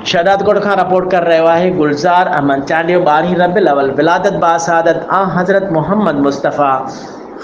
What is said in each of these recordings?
شهدادڪوٽ کان رپورٽ ڪري رهيو آهي گلزار احمد چانڊيو ٻارهين ربيع الاول ولادت باسعادت آنحضرت محمد مصطفي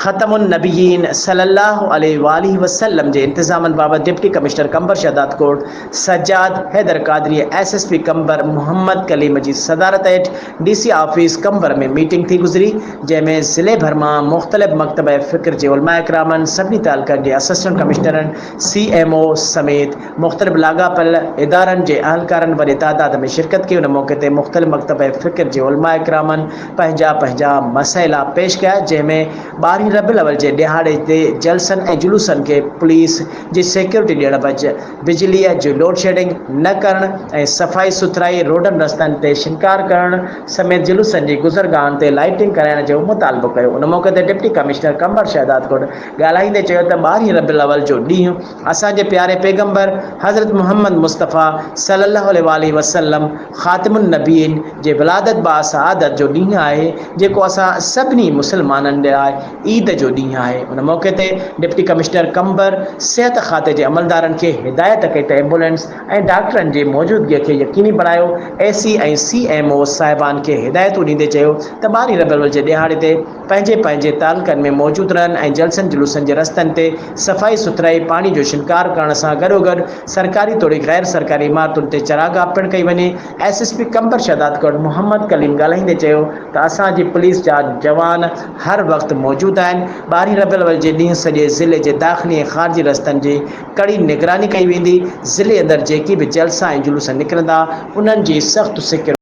ختم النبيين صلي الله عليه واٰله وسلم جي انتظامن بابت deputy commissioner Qambar Shahdadkot Sajjad Haider Qadri ۽ S S P Qambar Muhammad Kaleem جي صدارت هيٺ D C office Qambar ۾ meeting ٿي گذري جنهن ۾ ضلعي ڀر مان مختلف مڪتبه فڪر جي علماء ڪرامن سڀني تعلقن جي اسسٽنٽ ڪمشنرن سي ايم او سميت مختلف لاڳاپيل ادارن جي اهلڪارن وڏي تعداد ۾ شرڪت ڪئي، ان موقعي تي مختلف مڪتب ۽ فڪر جي علماء ڪرامن پنهنجا پنهنجا مسئلا پيش ڪيا، جنهن ۾ ٻارهين ربيع الاول جي ڏهاڙي تي جلسن ۽ جلوسن کي پوليس جي سيڪيورٽي ڏيڻ بج بجليء جي لوڊشيڊنگ نه ڪرڻ ۽ صفائي سٿرائي، روڊن رستن تي شنگار ڪرڻ سميت جلوسن جي گذرگاهن تي لائيٽنگ ڪرائڻ جو مطالبو ڪيو، ان موقعي تي ڊپٽي ڪمشنر قمبر شهدادڪوٽ، ڳالهائيندي چيو ته ٻارهين ربيع الاول جو ڏينهن اسان جي پياري پيغمبر حضرت محمد مصطفيٰ صلّي الله عليه واٰله وسلّم خاتم النّبيّين جي ولادت باسعادت جو ڏينهن آهي جيڪو اسان سڀني مسلمانن لاء عيد جو ڏينهن آهي ان موقعي تي ڊپٽي ڪمشنر قمبر صحت کاتي جي عملدارن کي هدايت ڪئي ته ايمبولينس ۽ ڊاڪٽرن جي موجودگي کي يقيني بڻايو اي سي ۽ سي ايم او صاحبان کي هدايتون ڏيندي چيو ته ٻارهين ربيع الاول جي ڏهاڙي تي پنهنجي پنهنجي تعلقن ۾ موجود رهن ۽ جلسن جلوسن جي رستن تي صفائي سٿرائي پاڻي جو شنگار ڪرڻ سان گڏوگڏ سرڪاري توڙي غير سرڪاري عمارتن تي چراگاهه پڻ ڪئي وڃي S S P Qambar Shahdadkot Muhammad Kaleem ڳالهائيندي چيو ته اسان جي پوليس جا جوان هر وقت موجود آهن ٻارهين ربيع الاول جي ڏينهن سڄي ضلعي جي داخلي ۽ خارجي رستن جي ڪڙي نگراني ڪئي ويندي ضلعي اندر جيڪي به جلسا ۽ جلوس نڪرندا انهن جي سخت سيڪيورٽي